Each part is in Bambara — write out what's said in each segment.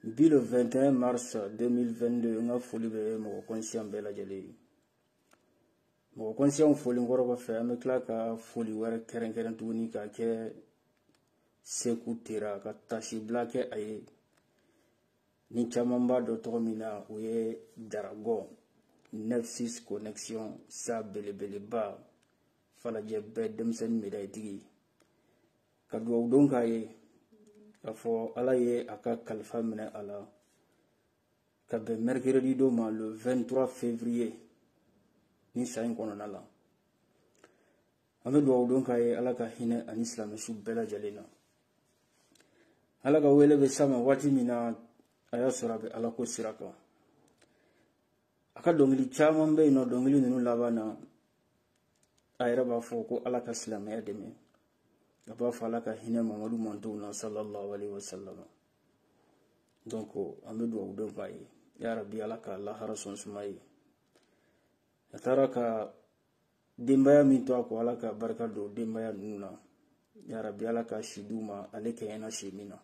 bi le 21 mars 2022 n ka foli bɛ mɔgɔ kɔnsiyan bɛɛ lajɛlen ye mɔgɔ kɔnsiyanw folen kɔrɔ kɔfɛ an bɛ tila ka foli wɛrɛ kɛrɛnkɛrɛn tuguni ka kɛ seku tera ka taasibila kɛ a ye ni caman b'a dɔn tɔgɔ min na o ye dragon neuf six connexion sa belebeleba falajɛ bɛɛ denmisɛnnin medayitigi ka dugawu dɔ k'a ye k'a fɔ ala ye a ka kalifa minɛ a la ka bɛn mercredi don ma le 23 février ni san in kɔnɔna la an bɛ dugawu dɔ k'a ye ala ka hinɛ a ni silamɛsu bɛɛ lajɛlen na ala ka wele bɛ s'a ma waati min na a y'a sɔrɔ a bɛ ala ko sira kan a ka dɔnkili caman bɛ yen nɔ dɔnkili ninnu laban na a yɛrɛ b'a fɔ ko ala ka silamɛya dɛmɛ a b'a fɔ ala ka hinɛ mamadu mantonw na sallallahu alaihi wasallam donc an bɛ dugawu dɔ k'a ye ya rabi ala ka lahara so suma a ye a taara ka denbaya min to a kɔ ala ka barika don denbaya ninnu na ya rabi ala ka si d'u ma ale kɛɲɛna si min na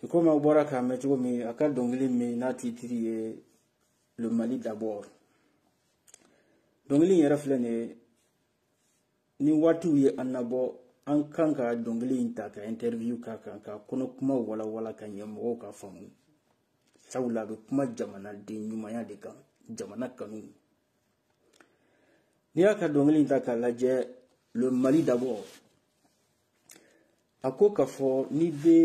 i komi aw bɔra k'a mɛn cogo min a ka dɔnkili min n'a titiri ye le mali d'abord dɔnkili in yɛrɛ filɛ nin ye ni waatiw ye an nabɔ an kan ka dɔnkili in ta ka interview k'a kan k'a kɔnɔkuma walawala ka ɲɛ mɔgɔw k'a faamu sabula a bɛ kuma jamanaden ɲumanya de kan jamana kanu n'i y'a ka dɔnkili in ta k'a lajɛ le mali d'abord a ko k'a fɔ n'i bɛ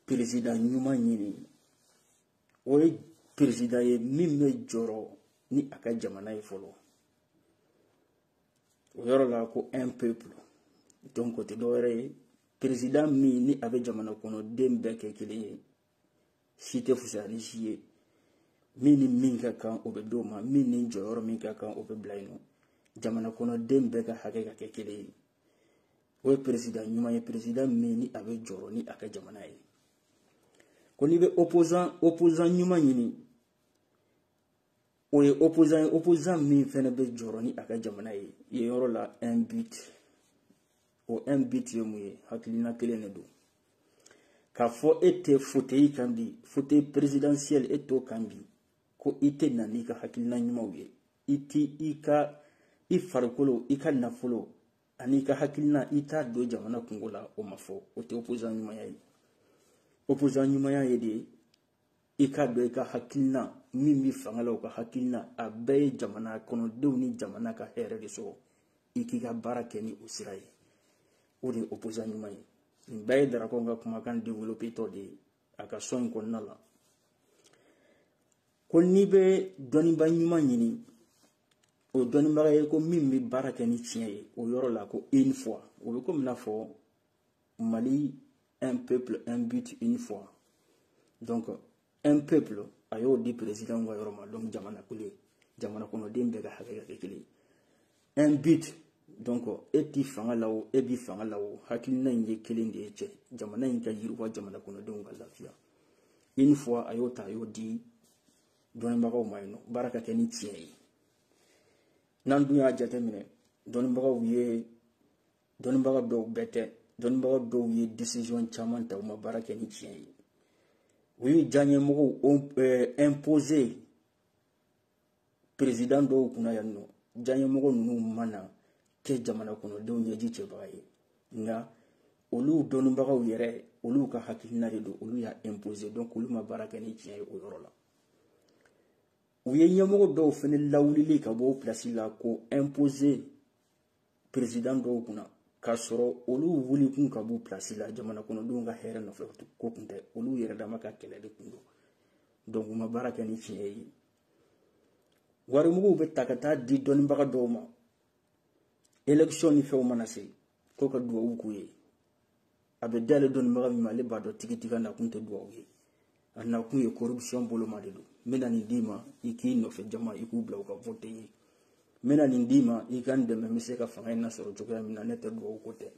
peresidan ɲuman ɲini o ye peresidan ye min bɛ jɔrɔ ni a ka jamana ye fɔlɔ o yɔrɔ la ko un peuple donc o tɛ dɔwɛrɛ ye peresidan min ni a bɛ jamana kɔnɔden bɛɛ kɛ kelen ye si tɛ fisaya ni si ye min ni min ka kan o bɛ d'o ma min ni jɔyɔrɔ min ka kan o bɛ bila yen nɔ jamana kɔnɔden bɛɛ ka hakɛ ka kɛ kelen ye o ye peresidan ɲuman ye peresidan min ni a bɛ jɔrɔ ni a ka jamana ye ko n'i bɛ opposant ɲuman ɲini o ye opposant ye opposant min fɛnɛ bɛ jɔrɔ ni a ka jamana ye yen yɔrɔ la un but o un but ye mun ye hakilina kelen de don k'a fɔ e tɛ fauteuil kan bi fauteuil présidentiel e t'o kan bi ko i tɛ na n'i ka hakilina ɲumanw ye i t'i ka i farikolo i ka nafolo an'i ka hakilina i t'a don jamana kunko la o ma fɔ o tɛ opposant ɲumanya ye opposant ɲumanya ye de i k'a dɔn i ka hakilina min bɛ fanga la o ka hakilina a bɛɛ ye jamana kɔnɔdenw ni jamana ka hɛrɛ de sɔrɔ i k'i ka baara kɛ ni o sira ye o de ye opposant ɲuman ye nin bɛɛ ye darakɔn ka kumakan developetɔ de ye a ka son in kɔnɔna la ko n'i bɛ dɔnnibaga ɲuman ɲini o dɔnnibaga ye ko min bɛ baara kɛ ni tiɲɛ ye o yɔrɔ la ko une foi o bɛ komi n'a fɔ mali un peuple un but une foi donc un peuple a y'o di président ka yɔrɔ ma donc jamana kelen jamana kɔnɔden bɛɛ ka hakɛ ka kɛ kelen un but donc e t'i fanga la o e b'i fanga la o hakilina in ye kelen de ye cɛ jamana in ka yiriwa jamana kɔnɔdenw ka lafiya une foi a y'o ta a y'o di dɔnnibagaw ma yen nɔ baara ka kɛ ni tiɲɛ ye n'an dun y'a jateminɛ dɔnnibagaw ye dɔnnibaga dɔw bɛɛ tɛ dɔnnibaga dɔw ye decision caman ta u ma baara kɛ ni tiɲɛ ye u y'u diyaɲɛmɔgɔw imposer perezidan dɔw kunna yan nɔ diyaɲɛmɔgɔ ninnu ma na kɛ jamana kɔnɔdenw ɲɛji cɛbaga ye nka olu dɔnnibagaw yɛrɛ olu ka hakilina de don olu y'a imposer donc olu ma baara kɛ ni tiɲɛ ye o yɔrɔ la u ye ɲɛmɔgɔ dɔw fana lawulili ka bɔ o pilasi la k'o imposer perezidan dɔw kunna k'a sɔrɔ olu wulikun ka b'u pilasi la jamana kɔnɔdenw ka hɛrɛ nafa ko kun tɛ olu yɛrɛ dama ka kɛlɛ de kun don donc u ma baara kɛ ni tiɲɛ ye warimuguw bɛ ta ka taa di dɔnnibaga dɔw ma election ni fɛnw mana se ko ka duwawu k'u ye a bɛ d'ale dɔnnibaga min ma ale b'a dɔn tigitigi k'a nakun tɛ dugawu ye a nakun ye corruption boloma de don n bɛna nin d'i ma i k'i nɔfɛ jama i k'u bila u ka vote n ye n bɛna nin d'i ma i ka n dɛmɛ n bɛ se ka fanga in nasɔrɔ cogoya min na n'o tɛ dugawu ko tɛ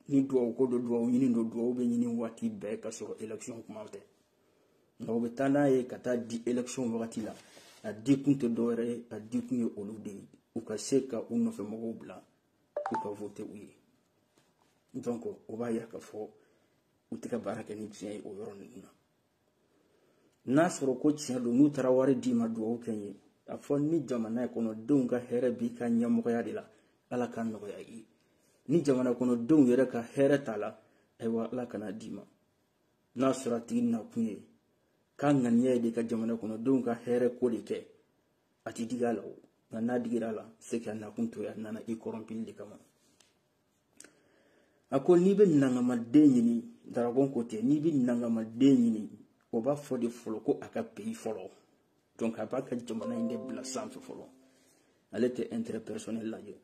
ni dugawu ko don dugawu ɲini don dugawu bɛ ɲini waati bɛɛ k'a sɔrɔ election kuma tɛ nka u bɛ taa n'a ye ka taa di election wagati la a di kun tɛ dɔwɛrɛ ye a di kun ye olu de ye u ka se ka u nɔfɛ mɔgɔw bila u ka vote u ye donc o b'a yira k'a fɔ u tɛ ka baara kɛ ni tiɲɛ ye o yɔrɔ ninnu na n'a sɔrɔ ko tiɲɛ don n'u taara wari d'i ma dugawu kɛ n ye a fɔ ni jamana kɔnɔdenw ka hɛrɛ b'i ka ɲɛmɔgɔya de la ala k'a nɔgɔya i ye ni jamana kɔnɔdenw yɛrɛ ka hɛrɛ t'a la ayiwa ala kana d'i ma n'a sɔrɔ a tigi nakun ye k'a ŋaniya ye de ka jamana kɔnɔdenw ka hɛrɛ ko de kɛ a ti digi a la o nka n'a digira a la c'est que a nakun to a nana i kɔrɔnpili de kama a ko n'i bɛ nangamaden ɲini darabɔn ko ten n'i bɛ nangamaden ɲini o b'a fɔ de fɔlɔ ko a ka pays fɔlɔ donc a b'a ka jamana in de bila sanfɛ fɔlɔ ale tɛ intérêt personnel lajɛ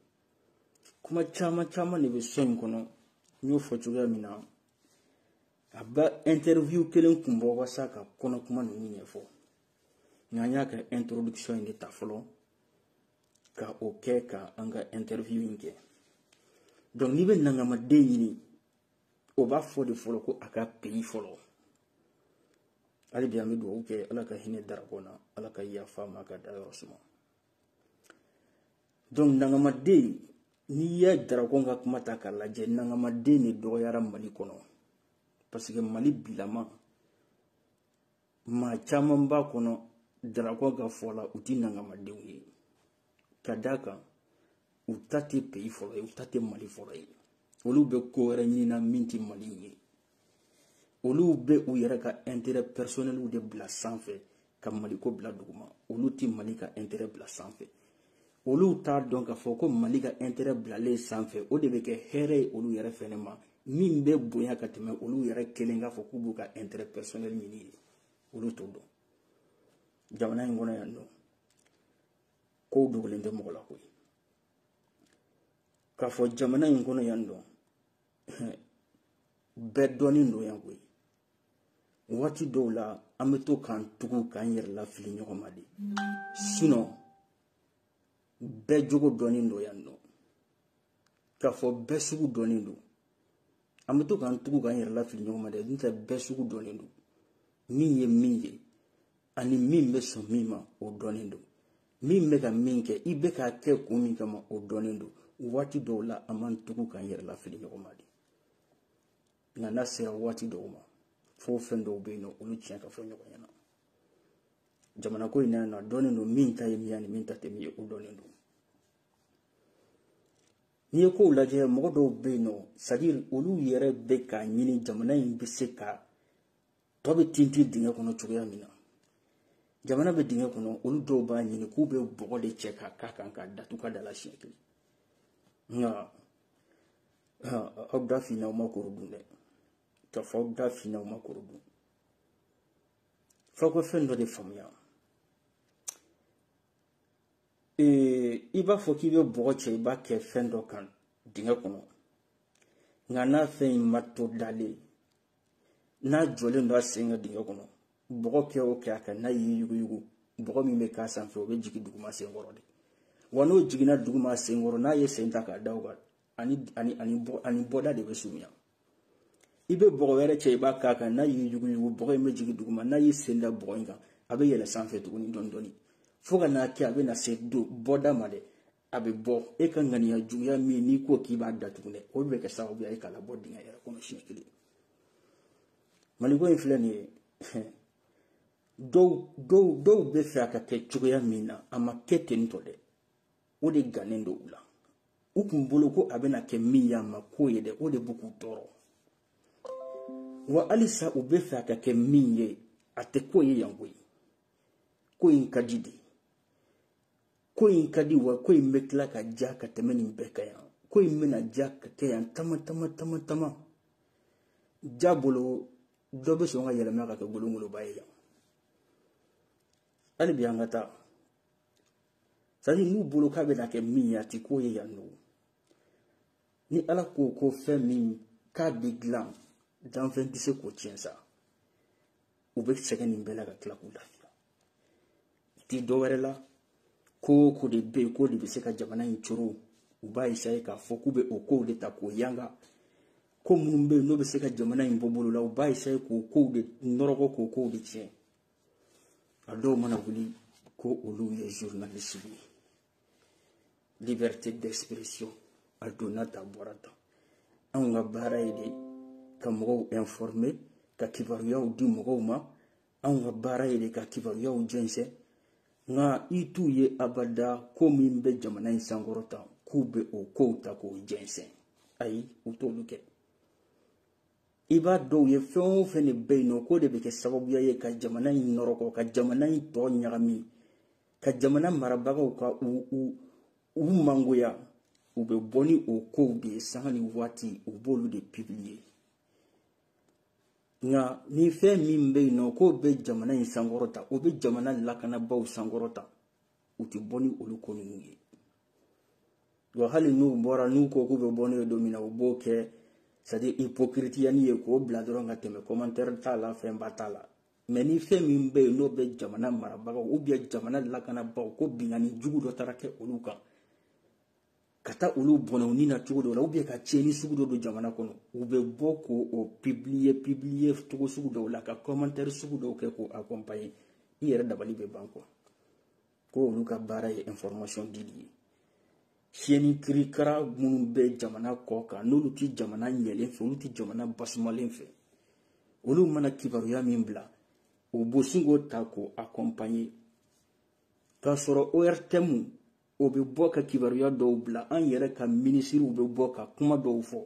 kuma caman caman de bɛ son in kɔnɔ n y'o fɔ cogoya min na a bɛ interview kelen kun bɔ walasa ka kɔnɔ kuma ninnu ɲɛfɔ n'an y'a ka introduction in de ta fɔlɔ ka o kɛ ka an ka interview in kɛ donc n'i bɛ nangamaden ɲini o b'a fɔ de fɔlɔ ko a ka pays fɔlɔ hali bi an bɛ dugawu kɛ ala ka hinɛ darabɔn na ala ka yafa a ma k'a dayɔrɔ suma donc nangamaden n'i ye darabɔn ka kuma ta k'a lajɛ nangamaden de dɔgɔyara mali kɔnɔ parce que mali bilama maa caman b'a kɔnɔ darabɔn ka fɔ la u tɛ nangamadenw ye ka d'a kan u ta tɛ pays fɔlɔ ye u ta tɛ mali fɔlɔ ye olu bɛ ko wɛrɛ ɲinina min tɛ mali ye olu bɛ u yɛrɛ ka intérêt personnel de bila sanfɛ ka maliko bila duguma olu tɛ mali ka intérêt bila sanfɛ olu t'a dɔn k'a fɔ ko mali ka intérêt bilalen sanfɛ o de bɛ kɛ hɛrɛ ye olu yɛrɛ fɛnɛ ma min bɛ bonya ka tɛmɛ olu yɛrɛ kelen k'a fɔ k'u b'u ka intérêt personnel ɲini ye olu t'o dɔn jamana in kɔnɔ yan nɔ kow dogolen tɛ mɔgɔ la koyi k'a fɔ jamana in kɔnɔ yan nɔ bɛɛ dɔnnen don yan koyi waati dɔw la an bɛ to k'an tugu k'an yɛrɛ lafili ɲɔgɔn ma de sinon bɛɛ jogo dɔnnen don yan nɔ k'a fɔ bɛɛ sugu dɔnnen don an bɛ to k'an tugu k'an yɛrɛ lafili ɲɔgɔn ma de n'o tɛ bɛɛ sugu dɔnnen don min ye min ye ani min bɛ sɔn min ma o dɔnnen don min bɛ ka min kɛ i bɛ k'a kɛ kun min kama o dɔnnen don waati dɔw la an b'an tugu k'an yɛrɛ lafili ɲɔgɔn ma de nka n'a sera waati dɔw ma fo fɛn dɔw bɛ yen nɔ olu tiɲɛ ka fɔ ɲɔgɔn ɲɛna jamana ko in na yan nɔ a dɔnnen don min ta ye min ye ani min ta tɛ min ye o dɔnnen don n'i ye kow lajɛ mɔgɔ dɔw bɛ yen nɔ c'est à dire olu yɛrɛ bɛ k'a ɲini jamana in bɛ se ka tɔ bɛɛ tintin dingɛ kɔnɔ cogoya min na jamana bɛ dingɛ kɔnɔ olu dɔw b'a ɲini k'u bɛ bɔgɔ de cɛ k'a k'a kan k'a datugu ka da la siɲɛ kelen nka aw da finna aw ma koro dun dɛ k'a fɔ aw da finna aw ma koro dun f'aw ka fɛn dɔ de faamuya i b'a fɔ k'i bɛ bɔgɔ cɛ i b'a kɛ fɛn dɔ kan dingɛ kɔnɔ nka n'a fɛn in ma to dalen n'a jɔlen don a sen kan dingɛ kɔnɔ bɔgɔ kɛ o kɛ a kan n'a y'i yuguyugu bɔgɔ min bɛ k'a sanfɛ o bɛ jigin duguma senkɔrɔ de wa n'o jiginna duguma senkɔrɔ n'a ye sen ta k'a da o kan a ni a ni a ni bɔ a ni bɔda de bɛ surunya i bɛ bɔgɔ wɛrɛ cɛ i b'a k'a kan n'a y'i yuguyugu bɔgɔ in bɛ jigin duguma n'a y'i sen da bɔgɔ in kan a bɛ yɛlɛ sanfɛ tuguni dɔɔni dɔɔni fo ka n'a kɛ a bɛ na se do bɔda ma dɛ a bɛ bɔ e ka ŋaniya juguya min n'i ko k'i b'a datugu dɛ o bɛ kɛ sababuya ye k'a labɔ dingɛ yɛrɛ kɔnɔ siɲɛ kelen maliko in filɛ nin ye dɔw dɔw dɔw bɛ fɛ a ka kɛ cogoya min na a ma kɛ ten tɔ dɛ o de gannen don u la u kun bolo ko a bɛna kɛ min ye a ma k'o ye dɛ o de bɛ k'u tɔɔrɔ wa halisa u bɛ fɛ a ka kɛ min ye a tɛ k'o ye yan koyi ko in ka di dɛ ko in ka di wa ko in bɛ tila ka diya ka tɛmɛ nin bɛɛ kan yan ko in bɛna diya ka kɛ yan tama tama tama tama ja bolo dɔ bɛ sɔn ka yɛlɛma ka kɛ golongoloba ye yan hali bi an ka taa c'est à dire n'u bolo k'a bɛna kɛ min ye a ti k'o ye yan nɔ ni ala ko ko fɛn min k'a bɛ dilan danfɛn tɛ se k'o tiɲɛ sa u bɛ sɛgɛn nin bɛɛ la ka tila k'u lafiya ti dɔ wɛrɛ la ko o ko de bɛ yen k'o de bɛ se ka jamana in coron u b'a essayer k'a fɔ k'u bɛ o kow de ta k'o yanga ko minnu bɛ yen n'o bɛ se ka jamana in bɔ bolo la u b'a essayer k'o kow de nɔrɔgɔ k'o kow de tiɲɛ a dɔw mana wuli ko olu ye journaliste ye liberté d'expression a donna ta bɔra ta anw ka baara ye de ka mɔgɔw informer ka kibaruyaw di mɔgɔw ma anw ka baara ye de ka kibaruyaw jɛnsɛn nka i t'u ye abada ko min bɛ jamana in sankɔrɔta k'u bɛ o kow ta k'o jɛnsɛn ayi u t'olu kɛ i b'a dɔw ye fɛn o fɛn de bɛ yen nɔ k'o de bɛ kɛ sababuya ye ka jamana in nɔrɔkɔ ka jamana in tɔgɔ ɲagami ka jamana marabagaw ka u u u mangoya u bɛ bɔ ni o kow de ye sanga ni waati u b'olu de publier nka ni fɛn min bɛ yen nɔ k'o bɛ jamana in sankɔrɔta o bɛ jamana lakanabaaw sankɔrɔta u tɛ bɔ ni olu ko ninnu ye wa hali n'u bɔra n'u ko k'u bɛ bɔ n'o ye don min na u b'o kɛ c'est à dire hypocritiani ye k'o bila dɔrɔn ka tɛmɛ commentaire t'a la fɛnba t'a la mais ni fɛn min bɛ yen n'o bɛ jamana marabagaw ou bien jamana lakanabaaw ko binkanni jugu dɔ taara kɛ olu kan ka taa olu bɔnɛ u ni na cogo dɔ la ou bien ka tiɲɛni sugu dɔ don jamana kɔnɔ u bɛ bɔ k'o o publier publier cogo sugu dɔw la ka commentaire sugu dɔw kɛ k'o accompagner i yɛrɛ dabali bɛ ban quoi ko olu ka baara ye information dili ye chaîne kirikara minnu bɛ jamana kɔ kan n'olu tɛ jamana ɲɛlen fɛ olu tɛ jamana basumalen fɛ olu mana kibaruya min bila u bɛ sin k'o ta k'o accompagner k'a sɔrɔ ORTM o bɛ bɔ ka kibaruya dɔw bila an yɛrɛ ka minisiriw bɛ bɔ ka kuma dɔw fɔ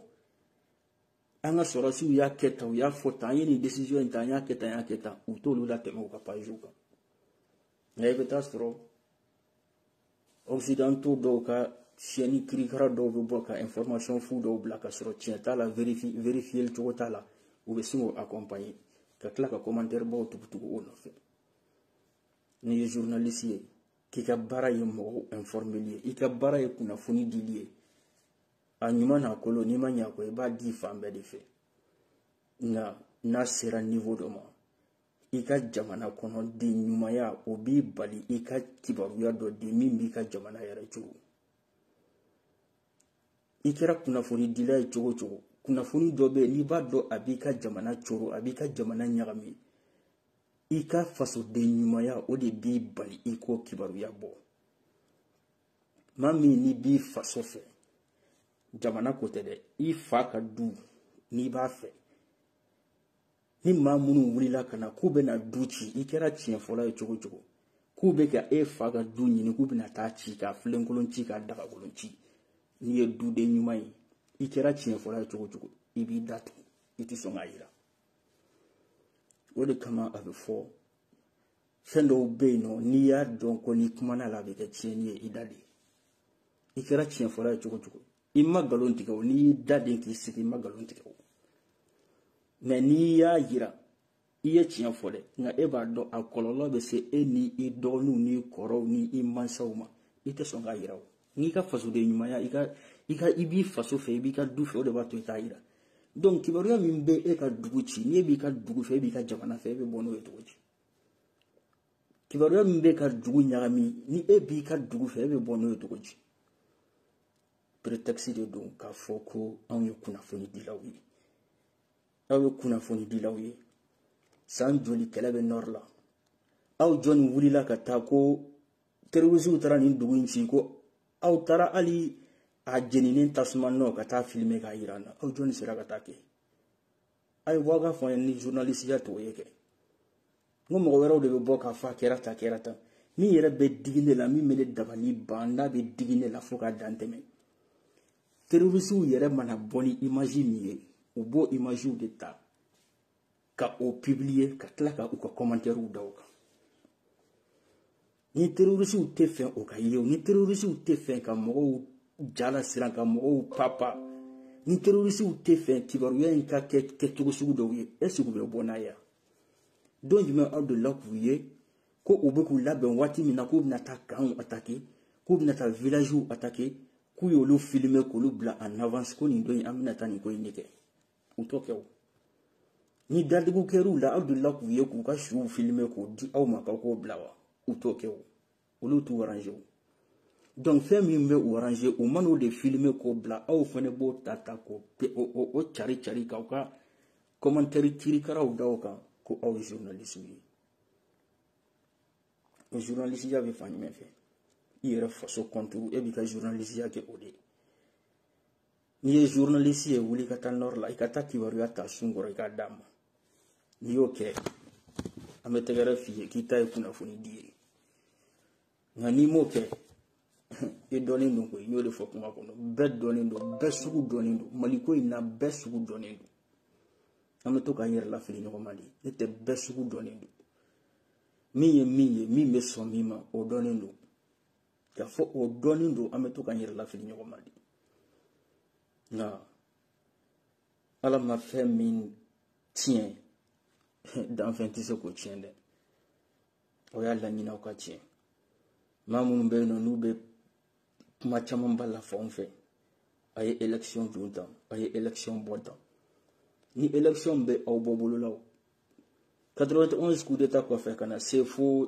an ka sɔrɔsiw y'a kɛ tan u y'a fɔ tan an ye nin décision in ta an y'a kɛ tan an y'a kɛ tan u t'olu latɛmɛ u ka pagew kan nka i bɛ taa sɔrɔ occidentaux dɔw ka chaîne kirikara dɔw bɛ bɔ ka information fu dɔw bila ka sɔrɔ tiɲɛ t'a la verifiyeli cogo t'a la u bɛ sin k'o accompagner ka tila ka commentaire baw tugutugu o nɔfɛ n'i ye journaliste ye k'i ka baara ye mɔgɔw informeli ye i ka baara ye kunnafoni dili ye a ɲuman n'a kolon n'i ma ɲa kɔ i b'a di fan bɛɛ de fɛ nka n'a sera niveau dɔ ma i ka jamana kɔnɔ den ɲumanya o b'i bali i ka kibaruya dɔ di min b'i ka jamana yɛrɛ coron i kɛra kunnafoni dila ye cogo cogo kunnafoni dɔ bɛ yen n'i b'a dɔn a b'i ka jamana coron a b'i ka jamana ɲagami i ka fasoden ɲumanya o de b'i bali i k'o kibaruya bɔ maa min n'i b'i faso fɛ jamana ko tɛ dɛ i fa ka du n'i b'a fɛ ni maa minnu wulila ka na k'u bɛna du ci i kɛra tiɲɛ fɔla ye cogo cogo k'u bɛ ka e fa ka du ɲini k'u bɛna taa ci ka filenkolon ci ka dagakolon ci n'i ye duden ɲuman ye i kɛra tiɲɛ fɔla ye cogo cogo i b'i datugu i tɛ sɔn k'a jira o de kama a bɛ fɔ fɛn dɔw bɛ yen nɔ n'i y'a dɔn ko n'i kumana a la a bɛ kɛ tiɲɛni ye i da de i kɛra tiɲɛ fɔla ye cogo cogo i ma nkalon tigɛ o n'i y'i da de k'i sigi i ma nkalon tigɛ o mais n'i y'a yira i ye tiɲɛ fɔ dɛ nka e b'a dɔn a kɔlɔlɔ bɛ se e ni i dɔgɔninw n'i kɔrɔw ni i mansaw ma i tɛ sɔn k'a yira o n'i ka fasoden ɲumanya i ka i ka i b'i faso fɛ i b'i ka du fɛ o de b'a to i t'a yira donc kibaruya min bɛ e ka dugu ci n'e b'i ka dugu fɛ e b'i ka jamana fɛ e bɛ bɔ n'o ye cogo di kibaruya min b'i ka dugu ɲagami ni e b'i ka dugu fɛ e bɛ bɔ n'o ye cogo di prétexte de don k'a fɔ ko anw ye kunnafonidilaw ye aw ye kunnafonidilaw ye san joli kɛlɛ bɛ nord la aw jɔni wulila ka taa ko terorisiw taara nin dugu in ci ko aw taara hali a jeninen tasuma nɔ ka taa filime k'a yira an na aw jɔni sera ka taa kɛ a ye bɔ a ka fɔ an ye ni journalisiya t'o ye kɛ n ko mɔgɔ wɛrɛw de bɛ bɔ k'a fɔ a kɛra tan kɛra tan min yɛrɛ bɛ digi ne la min bɛ ne dabali ban n'a bɛ digi ne la fo ka dan tɛmɛ terorisiw yɛrɛ mana bɔ ni imaji min ye u b'o imajiw de ta ka o publier ka tila ka u ka commentaires da o kan ni terrorisiw t'a fɛ o ka ye o ni terrorisiw t'a fɛ ka mɔgɔw ja lasiran ka mɔgɔw papa ni terrorisiw t'a fɛ kibaruya in ka kɛ kɛcogo sugu dɔw ye est-ce que u bɛ bɔ n'a ye don jumɛn aw delila k'u ye ko u bɛ k'u labɛn waati min na k'u bɛna taa campw atake k'u bɛna taa villagew atake k'u y'olu filime k'olu bila en avance ko nin don in an bɛna taa nin ko in de kɛ u t'o kɛ o ni dadigiw kɛr'u la aw delila k'u ye k'u ka suw filime k'o di aw ma k'aw k'o bila wa u t'o kɛ o olu t'u arrange o donc fɛn min bɛ u arrange u man'o de filime k'o bila aw fana b'o ta ta k'o o cari cari k'aw ka commentaire kirikaraw da o kan ko aw ye journaliste ye o journalisiya bɛ fan jumɛn fɛ i yɛrɛ faso contre e b'i ka journalisiya kɛ o de ye n'i ye journaliste ye wuli ka taa nord la i ka taa kibaruya ta sun kɔrɔ i k'a d'an ma n'i y'o kɛ an bɛ tɛgɛrɛ f'i ye k'i ta ye kunnafoni di ye nka n'i m'o kɛ i dɔnnen don koyi n y'o de fɔ kuma kɔnɔ bɛɛ dɔnnen don bɛɛ sugu dɔnnen don maliko in na bɛɛ sugu dɔnnen don an bɛ to k'an yɛrɛ lafili ɲɔgɔn ma de n'o tɛ bɛɛ sugu dɔnnen don min ye min ye min bɛ sɔn min ma o dɔnnen don y'a fɔ o dɔnnen don an bɛ to k'an yɛrɛ lafili ɲɔgɔn ma de nka ala ma fɛn min tiɲɛ danfɛn tɛ se k'o tiɲɛ dɛ o y'a laɲini aw ka tiɲɛ maa minnu bɛ yen nɔ n'u bɛ kuma camanba la fɔ anw fɛ a ye election don tan a ye election bɔ tan ni election bɛ aw bɔ bolo la o 91 coup d'état kɔfɛ ka na se fo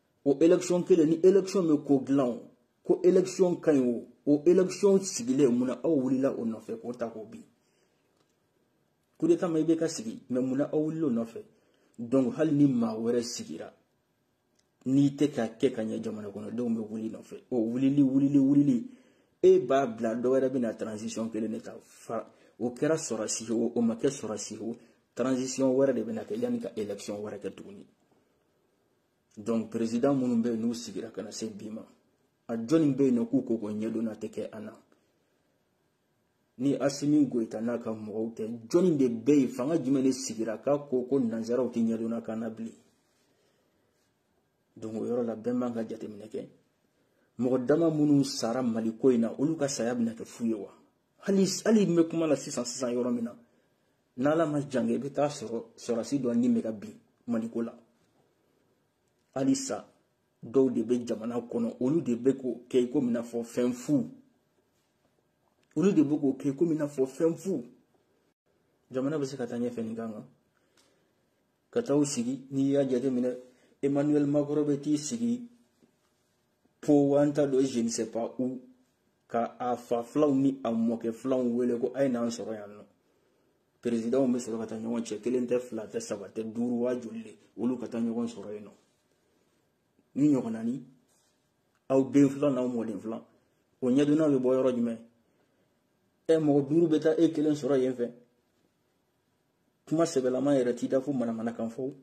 o election kelen ni election bɛ ko dilan o ko election ka ɲi o o election sigilen munna aw wulila o nɔfɛ k'o ta k'o bin kudeta ma IBK sigi mais munna aw wulila o nɔfɛ donc hali ni maa wɛrɛ sigira n'i tɛ k'a kɛ ka ɲɛ jamana kɔnɔdenw bɛ wuli i nɔfɛ o wulili wulili wulili e b'a bila dɔ wɛrɛ bɛna transition kelen de ta fa o kɛra sɔrɔsi ye o o ma kɛ sɔrɔsi ye o transition wɛrɛ de bɛna kɛ yanni ka election wɛrɛ kɛ tuguni donc président minnu bɛ yen n'u sigira ka na se bi ma a jɔnni bɛ yen nɔ k'u ko ko ɲɛdonna tɛ kɛ an na ni asimi goyita n'a ka mɔgɔw tɛ jɔnni de bɛ yen fanga jumɛn de sigira k'a ko ko nanzaraw tɛ ɲɛdonna k'an na bilen donc o yɔrɔ la bɛɛ man ka jateminɛ kɛ mɔgɔ dama minnu sara mali ko in na olu ka saya bɛna kɛ fu ye wa hali hali n bɛ kuma la sisan sisan yɔrɔ min na n'ala ma jange i bɛ taa sɔrɔ sɔrɔdasi dɔ ni bɛ ka bin maliko la halisa dɔw de bɛ jamana kɔnɔ olu de bɛ k'o kɛ i komi i n'a fɔ fɛn fu olu de bɛ k'o kɛ i komi i n'a fɔ fɛn fu jamana bɛ se ka taa ɲɛfɛ nin kan k'an ka taa u sigi n'i y'a jateminɛ emmanuel macron bɛ t'i sigi pau an t'a dɔn je ne sais pas où ka a fa filanw ni a mɔkɛ filanw wele ko a ye n'an sɔrɔ yan nɔ perezidanw bɛ sɔrɔ ka taa ɲɔgɔn cɛ kelen tɛ fila tɛ saba tɛ duuru waa joli de olu ka taa ɲɔgɔn sɔrɔ yen nɔ nin ɲɔgɔnna ni aw den filan n'aw mɔden filan o ɲɛdonnaw bɛ bɔ yɔrɔ jumɛn ɛ mɔgɔ duuru bɛ taa e kelen sɔrɔ yen fɛ kuma sɛbɛlama yɛrɛ t'i da fo manamanakan fɔ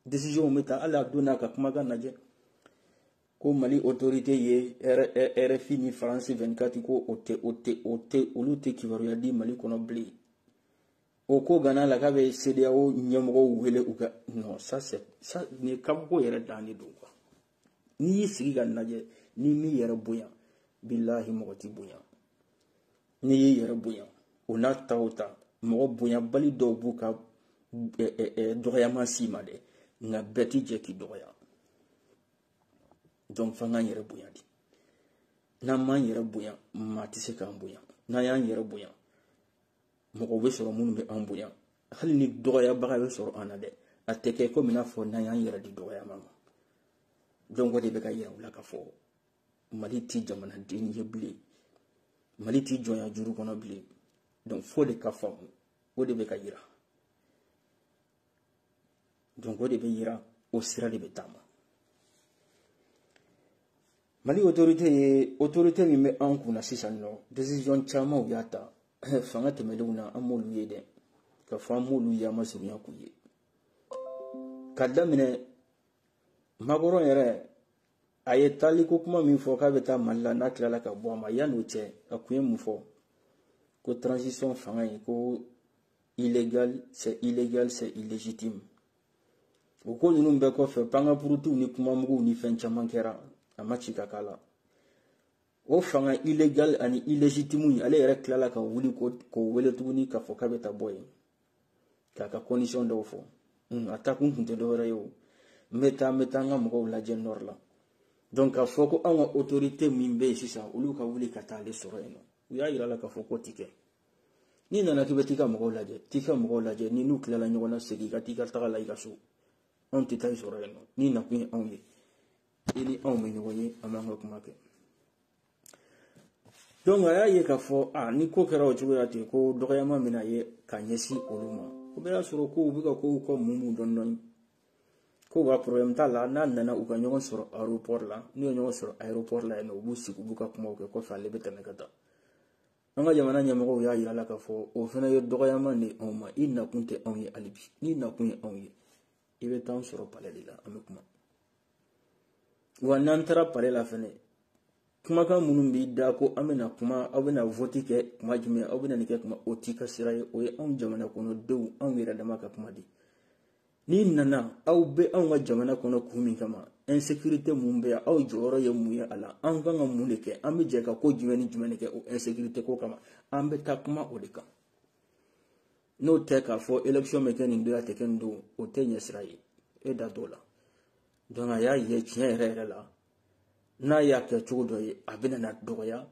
décision bɛ ta hali a don n'a ka kumakan lajɛ ko mali autorité ye rfi ni france 24 ko o tɛ o tɛ o tɛ olu tɛ kibaruya di mali kɔnɔ bilen o ko gana la k'a bɛ cedeao ɲɛmɔgɔw wele u ka non ça c'est ça nin kabako yɛrɛ dan de don quoi n'i y'i sigi ka lajɛ n'i m'i yɛrɛ bonya bilahi mɔgɔ t'i bonya n'i y'i yɛrɛ bonya o n'a ta o ta mɔgɔ bonyabali dɔw b'u ka dɔgɔyama s'i ma dɛ nka bɛɛ ti jɛ k'i dɔgɔya donc f'an k'an yɛrɛ bonya de n'an m'an yɛrɛ bonya maa tɛ se k'an bonya n'an y'an yɛrɛ bonya mɔgɔw bɛ sɔrɔ minnu bɛ an bonya hali ni dɔgɔyabaga bɛ sɔrɔ an na dɛ a tɛ kɛ komi n'a fɔ n'an y'an yɛrɛ di dɔgɔyama ma donc o de bɛ k'a yira u la k'a fɔ mali ti jamananin ye bilen mali ti jɔnya juru kɔnɔ bilen donc fo de ka faamu o de bɛ ka yira donc o de bɛ yira o sira de bɛ taama mali autorité ye autorité min bɛ an kunna sisan nɔ décision caman u y'a ta fanga tɛmɛnenw na an m'olu ye dɛ ka fɔ an m'olu ye an ma surunya k'u ye ka daminɛ macron yɛrɛ a ye taaliko kuma min fɔ k'a bɛ taa mali la n'a tilala ka bɔ a ma yanni o cɛ a kun ye mun fɔ ko transition fanga in ko illégal c'est illégal c'est illégitime o ko ninnu bɛɛ kɔfɛ pankapurutuw ni kumamuguw ni fɛn caman kɛra a ma ci ka k'a la o fanga illégal ani illégitime in ale yɛrɛ tilala ka wuli k'o wele tuguni k'a fɔ k'a bɛ taa bɔ yen k'a ka condition dɔw fɔ hmm, a taakun tun tɛ dɔwɛrɛ ye o n bɛ taa n bɛ taa n ka mɔgɔw lajɛ nord la donc k'a fɔ ko anw ka autorité min bɛ yen sisan olu ka wuli ka taa ale sɔrɔ yen nɔ u y'a yira la k'a fɔ k'o ti kɛ n'i nana k'i bɛ t'i ka mɔgɔw lajɛ t'i ka mɔgɔw lajɛ n'i n'u tilala ɲɔgɔn na segin i ka t'i ka taga la i ka so anw tɛ taa i sɔrɔ yen nɔ n'i nakun ye anw ye i ni anw bɛ ɲɔgɔn ye an b'an ka kuma kɛ donc a y'a ye k'a fɔ a ni ko kɛra o cogoya ten ko dɔgɔyama bɛna ye ka ɲɛsin olu ma o bɛɛ y'a sɔrɔ kow bɛ ka kow kɔ mun mun dɔɔni dɔɔni ko wa problème t'a la n'a nana u ka ɲɔgɔn sɔrɔ aéroport la n'u ye ɲɔgɔn sɔrɔ aéroport la yen nɔ u b'u sigi u b'u ka kumaw kɛ kɔfɛ ale bɛ tɛmɛ ka taa an ka jamana ɲɛmɔgɔw y'a yira la k'a fɔ o fana ye dɔgɔyama de anw ma i nakun tɛ anw ye hali bi n'i nakun ye anw ye i bɛ t'an sɔrɔ palais de la an bɛ kuma wa n'an taara palais la fɛnɛ kumakan minnu b'i da ko an bɛna kuma aw bɛna vɔti kɛ kuma jumɛn aw bɛna nin kɛ kuma o t'i ka sira ye o ye anw jamana kɔnɔ denw anw yɛrɛ dama ka kuma de n'i nana aw bɛ anw ka jamana kɔnɔ kun min kama insécurité mun bɛ yan aw jɔyɔrɔ ye mun ye a la an kan ka mun de kɛ an bɛ jɛ ka ko jumɛn ni jumɛn de kɛ o insécurité ko kama an bɛ taa kuma o de kan n'o tɛ k'a fɔ election bɛ kɛ nin don a tɛ kɛ nin don o t'e ɲɛsira ye e da t'o la donc a y'a ye tiɲɛ yɛrɛ yɛrɛ la n'a y'a kɛ cogo dɔ ye a bɛna na dɔgɔya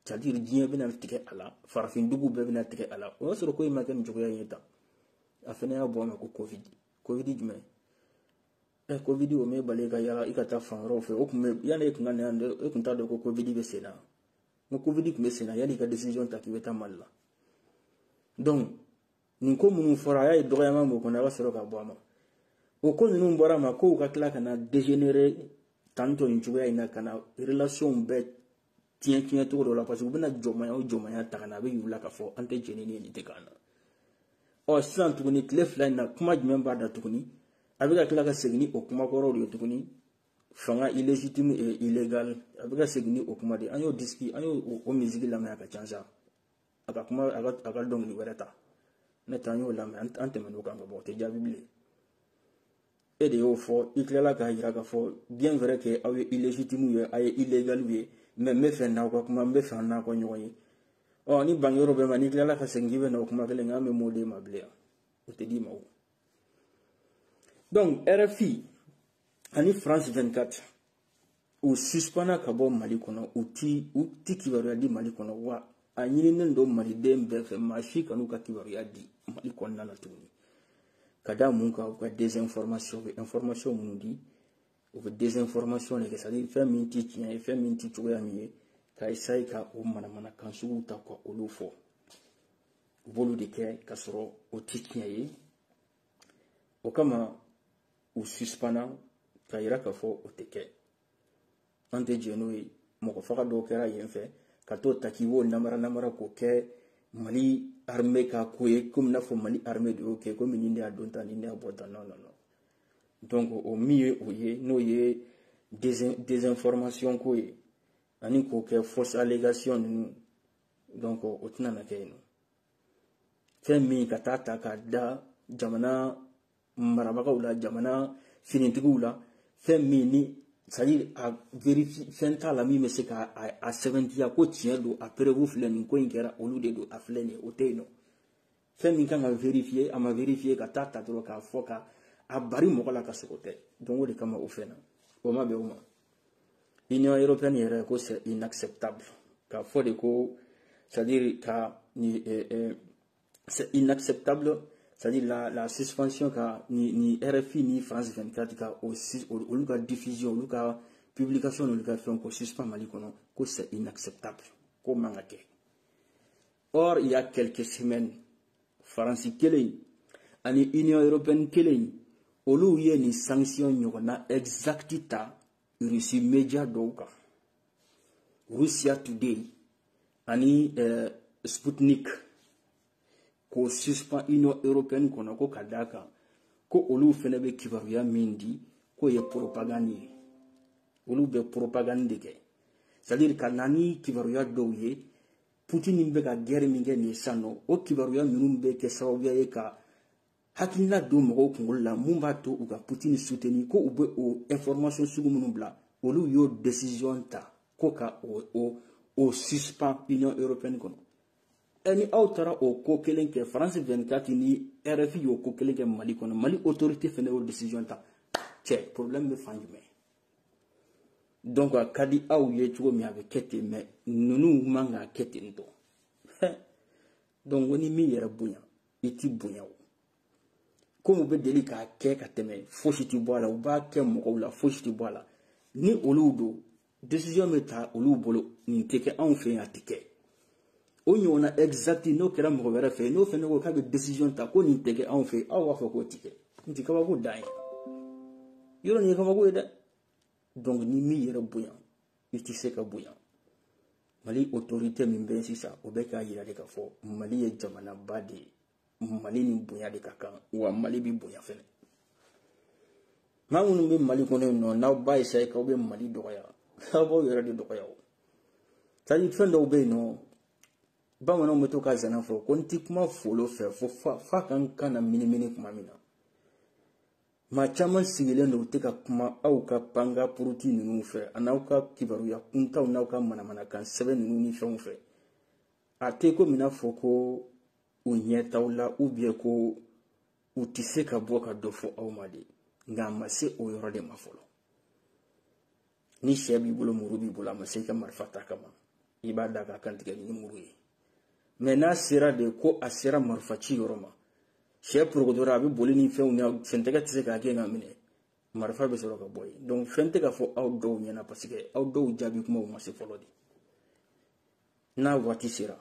c'est-à-dire diɲɛ bɛna tigɛ a la farafindugu bɛɛ bɛna tigɛ a la o y'a sɔrɔ ko in ma kɛ nin cogoya ye tan a fana y'a bɔ a ma ko covid covid jumɛn ɛ eh, covid o m'e bali ka yala i ka taa fan wɛrɛw fɛ o tun bɛ yanni e tun ka na yan e tun t'a dɔn ko covid bɛ sen na n ko covid tun bɛ sen na yanni i ka decision ta k'i bɛ taa mali la donc nin ko minnu fɔra a y'a ye dɔgɔyama b'o kɔnɔ a ka sɔrɔ ka bɔ a ma o ko ninnu bɔra a ma kow ka tila ka na dégénérer tantôt nin cogoya in na ka na relations bɛɛ tiɲɛ tiɲɛ cogo dɔ la parce que u bɛna jɔmaya o jɔmaya ta ka na a bɛ y'u la k'a fɔ an tɛ jɛn ni nin nin tɛ k'an na ɔ sisan tuguni tile fila in na kuma jumɛn b'a da tuguni a bɛ ka tila ka segin ni o kuma kɔrɔw de ye tuguni fanga illégitime et illégal a bɛ ka segin ni o kuma de an y'o disiki an y'o o misiki lamɛn a k'a changer a ka kuma a ka a ka dɔnkili wɛrɛ ta n'o tɛ an y'o lamɛn an tɛmɛn'o kan ka ban o tɛ jaabi bilen e de y'o fɔ i tilala k'a yira k'a fɔ bien vrai que aw ye illégitime ye a ye illégal ye mais n bɛ fɛ n'aw ka kuma n bɛ fɛ an n'aw ka ɲɔgɔn ye ɔ ni bangeyɔrɔ bɛ ma n'i tilala ka segin k'i bɛ na o kuma kelen kan an bɛ m'o d'e ma bilen yan o tɛ d'i ma o donc rfi ani france 24 u suspanna ka bɔ mali kɔnɔ u ti u ti kibaruya di mali kɔnɔ wa a ɲininen don maliden bɛɛ fɛ maa si kan'u ka kibaruya di mali kɔnɔna la tuguni ka da mun kan u ka désinformation bɛ information minnu di u bɛ désinformation de kɛ c'est à dire fɛn min ti tiɲɛ ye fɛn min ti cogoya min ye ka essaye ka o manamanakan suguw ta ka olu fɔ u b'olu de kɛ ka sɔrɔ o tɛ tiɲɛ ye o kama u suspanna ka yira k'a fɔ o tɛ kɛ an tɛ jɛ n'o ye mɔgɔ faga dɔw kɛra yen fɛ ka t'o ta k'i b'o namara namara k'o kɛ mali armée ka ko ye komi n'a fɔ mali armée de y'o kɛ komi nin de y'a don tan nin de y'a bɔ tan non non non donc o min ye o ye n'o ye désinformation ko ye ani k'o kɛ fausse allégation ninnu donc o tɛna na kɛ yen nɔ fɛn min ka taa ta ka da jamana marabagaw la jamana finitigiw la fɛn min ni c'est à dire a vérifier fɛn t'a la min bɛ se ka a sɛbɛntiya ko tiɲɛ don a preuve filɛ nin ko in kɛra olu de don a filɛ nin ye o tɛ yen nɔ fɛn min kan ka vérifier a ma vérifier ka taa ta dɔrɔn k'a fɔ ka a bari mɔgɔ la ka sɔrɔ o tɛ donc o de kama o fɛn na o ma bɛn o ma union européenne yɛrɛ ko c'est inacceptable k'a fɔ de ko c'est à dire ka ni eh, eh, c'est inacceptable c'est à dire la, la suspension ka ni, ni rfi ni france 24 ka o olu ka diffusion olu ka publication n'olu ka fɛnw k'o suspend mali kɔnɔ ko c'est inacceptable k'o man ka kɛ or il y a quelques semaines faransi kelen ani union européenne kelen olu ye nin sanction ɲɔgɔnna exact ta russie media dɔw kan russia today ani eh, sputnik k'o suspend union européenne kɔnɔ ko ka d'a kan ko olu fɛnɛ bɛ kibaruya min di k'o ye propagande ye olu bɛ propagande de kɛ c'est à dire ka na ni kibaruya dɔw ye putin bɛ ka guerre min kɛ nin san nɔ o kibaruya ninnu bɛ kɛ sababuya ye ka hakilina don mɔgɔw kunkolo la mun b'a to u ka putin soutenir ko u bɛ o information sugu minnu bila olu y'o decision ta ko ka o o o suspend union européenne kɔnɔ ɛ ni aw taara o ko kelen kɛ france 24 ni rfi y'o ko kelen kɛ mali kɔnɔ mali autorité fana y'o decision ta cɛ problème bɛ fan jumɛn donc a ka di aw ye cogo min a bɛ kɛ ten mais ninnu man k'a kɛ ten tɔ donc o ni min yɛrɛ bonya i ti bonya o komi u bɛ deli k'a kɛ ka tɛmɛ fosi ti bɔ a la u b'a kɛ mɔgɔw la fosi ti bɔ a la ni olu don décision bɛ ta olu bolo nin tɛ kɛ anw fɛ yen a tɛ kɛ o ɲɔgɔnna exact n'o kɛra mɔgɔ wɛrɛ fɛ n'o fɛnɛ ko k'a bɛ décision ta ko nin tɛ kɛ anw fɛ aw b'a fɔ k'o tɛ kɛ nin tɛ kabako dan ye yɔrɔ nin ye kabako ye dɛ donc n'i m'i yɛrɛ bonya i tɛ se ka bonya mali autorité min bɛ sisan o bɛ k'a yira de k'a fɔ mali ye jamanaba de ye mali ni bonya de ka kan wa mali bɛ bonya fɛnɛ maa minnu bɛ mali kɔnɔ yen nɔ n'aw b'a essayer k'aw bɛ mali dɔgɔya aw b'aw yɛrɛ de dɔgɔya o c'est à dire fɛn dɔw bɛ yen nɔ bamananw bɛ to ka zana fɔ ko n tɛ kuma folo fɛ fo f'a ka n kan naminimini tuma min na maa caman sigilen don u tɛ ka kuma aw ka panga puruti ninnu fɛ an'aw ka kibaruya kuntanw n'aw ka manamanakan sɛbɛn ninnu ni fɛnw fɛ a tɛ komi i n'a fɔ ko u ɲɛ t'aw la ou bien ko u tɛ se ka bɔ ka dɔ fɔ aw ma de nka a ma se o yɔrɔ de ma fɔlɔ ni syɛ b'i bolo muru b'i bolo a ma se i ka marifa t'a kama i b'a da k'a kantigɛ ni muru ye mais n'a sera de ko a sera marifa ci yɔrɔ ma syɛ porokotora a bɛ boli ni fɛnw na sentɛgɛ tɛ se k'a gɛn k'a minɛ marifa bɛ sɔrɔ ka bɔ yen donc fɛn tɛ ka fɔ aw dɔw ɲɛna parce que aw dɔw jaabi kumaw ma se fɔlɔ de n'a waati sera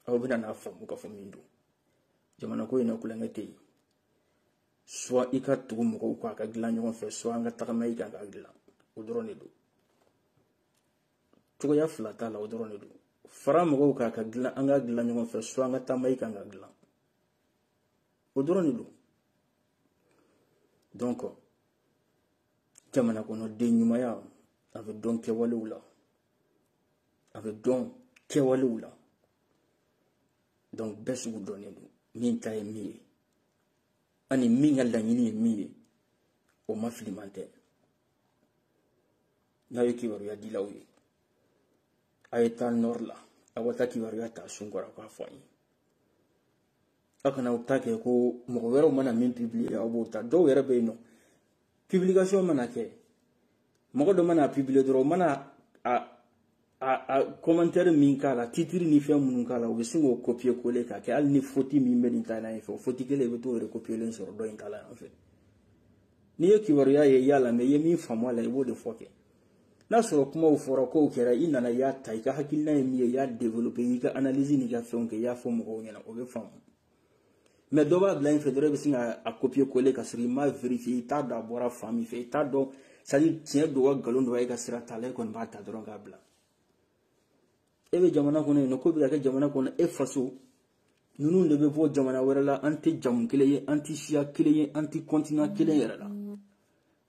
aw bɛna n'a faamu k'a fɔ min don jamana ko in na kulokan tɛ soit i ka tugu mɔgɔw kɔ an k'a dilan ɲɔgɔn fɛ soit an ka tagama i kan k'a dilan o dɔrɔn de don cogoya fila t'a la o dɔrɔn de don fara mɔgɔw kan k'a dilan an k'a dilan ɲɔgɔn fɛ soit an ka taama i kan k'a dilan o dɔrɔn de don donc jamana kɔnɔ den ɲumanya a bɛ dɔn kɛwalew la a bɛ dɔn kɛwalew la donc bɛɛ sugu dɔnnen don min ta ye min ye ani min ka laɲini ye min ye o ma filiman tɛ n'aw ye kibaruya dilaw ye a ye taa nord la aw ka taa kibaruya t'a sun kɔrɔ k'a fɔ an ye aw kana aw ta kɛ ko mɔgɔ wɛrɛw mana min publier aw b'o ta dɔw yɛrɛ bɛ yen nɔ publication mana kɛ mɔgɔ dɔ man'a publier dɔrɔn o mana a a a commentaire min k'a la titre ni fɛn minnu k'a la u bɛ sin k'o copier coller k'a kɛ hali ni faute min bɛ nin ta in fɛ o faute kelen i bɛ t'o recopier len sɔrɔ dɔ in ta la yan fɛ n'i ye kibaruya ye y'a lamɛn i ye min faamu a la i b'o de fɔ kɛ. n'a sɔrɔ kumaw fɔra kow kɛra i nana i y'a ta i ka hakilina ye min ye i y'a développer i ka analyse n'i ka fɛnw kɛ i y'a fɔ mɔgɔw ɲɛna o bɛ faamu mais dɔ b'a bila in fɛ dɔrɔn i bɛ sin k'a copier coller ka sɔrɔ i m'a vérifier i t'a dɔn a bɔra fan min fɛ i t'a dɔn c'est à dire tiɲɛ don wa nkalon don wa e ka sira t'a la e kɔni b'a ta dɔrɔn k'a bila e bɛ jamana kɔnɔ yen nɔ ko bɛ ka kɛ jamana kɔnɔ e faso ninnu de bɛ bɔ jamana wɛrɛ la an tɛ jamu kelen ye an tɛ siya kelen ye an tɛ kɔntinan kelen yɛrɛ la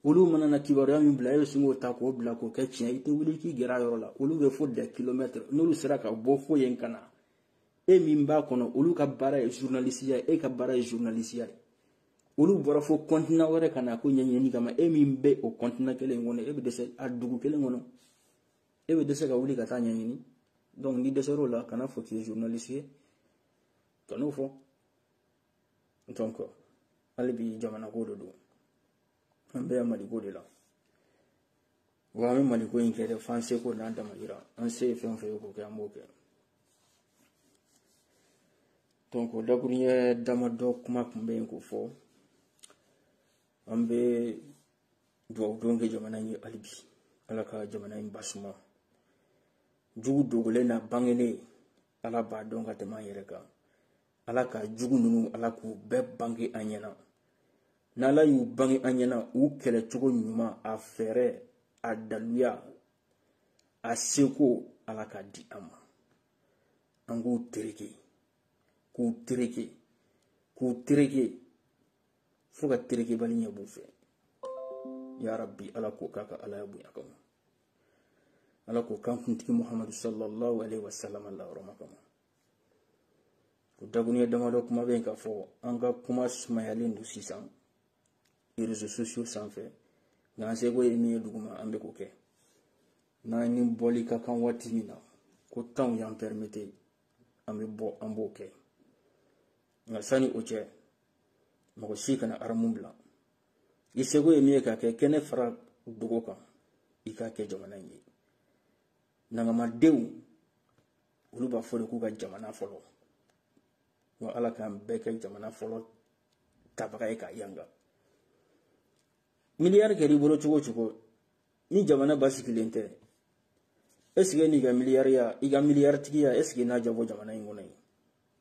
olu mana na kibaruya min bila e bɛ sin k'o ta k'o bila k'o kɛ tiɲɛ i tɛ wuli k'i gɛrɛ a yɔrɔ la olu bɛ fo dɛ kilomɛtiri n'olu sera ka bɔ fo yen ka na e min b'a kɔnɔ olu ka baara ye zurunalisiya e ka baara ye zurunalisiya ye olu bɔra fo kɔntinan wɛrɛ ka na ko ɲɛɲini kama e min bɛ o kɔntinan kelen kɔnɔ e bɛ dɛsɛ a dugu kelen kɔnɔ e bɛ dɛsɛ ka wuli ka taa ɲɛɲini donc n'i dɛsɛr'o la kan'a fɔ k'i ye journaliste ye kan'o fɔ donc hali bi jamanako de don an bɛ maliko de la wa an bɛ maliko in kɛ dɛ f'an seko n'an damayira an se ye fɛn o fɛn ye k'o kɛ an b'o kɛ donc o dakuruɲɛ damadɔ kuma tun bɛ yen k'o fɔ an bɛ duwawu don kɛ jamana in ye hali bi ala ka jamana in basuma jugu dogolen na bangelen ala b'a dɔn ka tɛmɛ an yɛrɛ kan ala ka jugu ninnu ala k'u bɛɛ bange an ɲɛna n'ala y'u bange an ɲɛna u kɛlɛ cogo ɲuman a fɛɛrɛ a daluya a seko ala k'a di an ma an k'u tereke k'u tereke k'u tereke fo ka terekebali ɲɛ b'u fɛ ya rabbi ala k'o k'a ka alaya bonya kama ala k'o k'an kuntigi muhamadu sallallahu alaihi wasallam la hɔrɔma kama o dakuruɲɛ damadɔ kuma bɛ yen k'a fɔ an ka kuma sumayalen don sisan réseaux sociaux sanfɛ nka an seko ye min ye duguma an bɛ k'o kɛ n'an ni bɔli ka kan waati min na ko tan y'an pɛrimete an bɛ bɔ an b'o kɛ nka sani o cɛ mɔgɔ si kana aramu bila i seko ye min ye k'a kɛ kɛnɛ fara dogo kan i k'a kɛ jamana in ye nangamadenw olu b'a fɔ de k'u ka jamana fɔlɔ wa ala k'an bɛɛ kɛ jamana fɔlɔ tabaga ye ka yanga miliyari kɛra i bolo cogo o cogo ni jamana basigilen tɛ esike n'i ka miliyariya i ka miliyaritigiya esike n'a diyabɔ jamana in kɔnɔ yen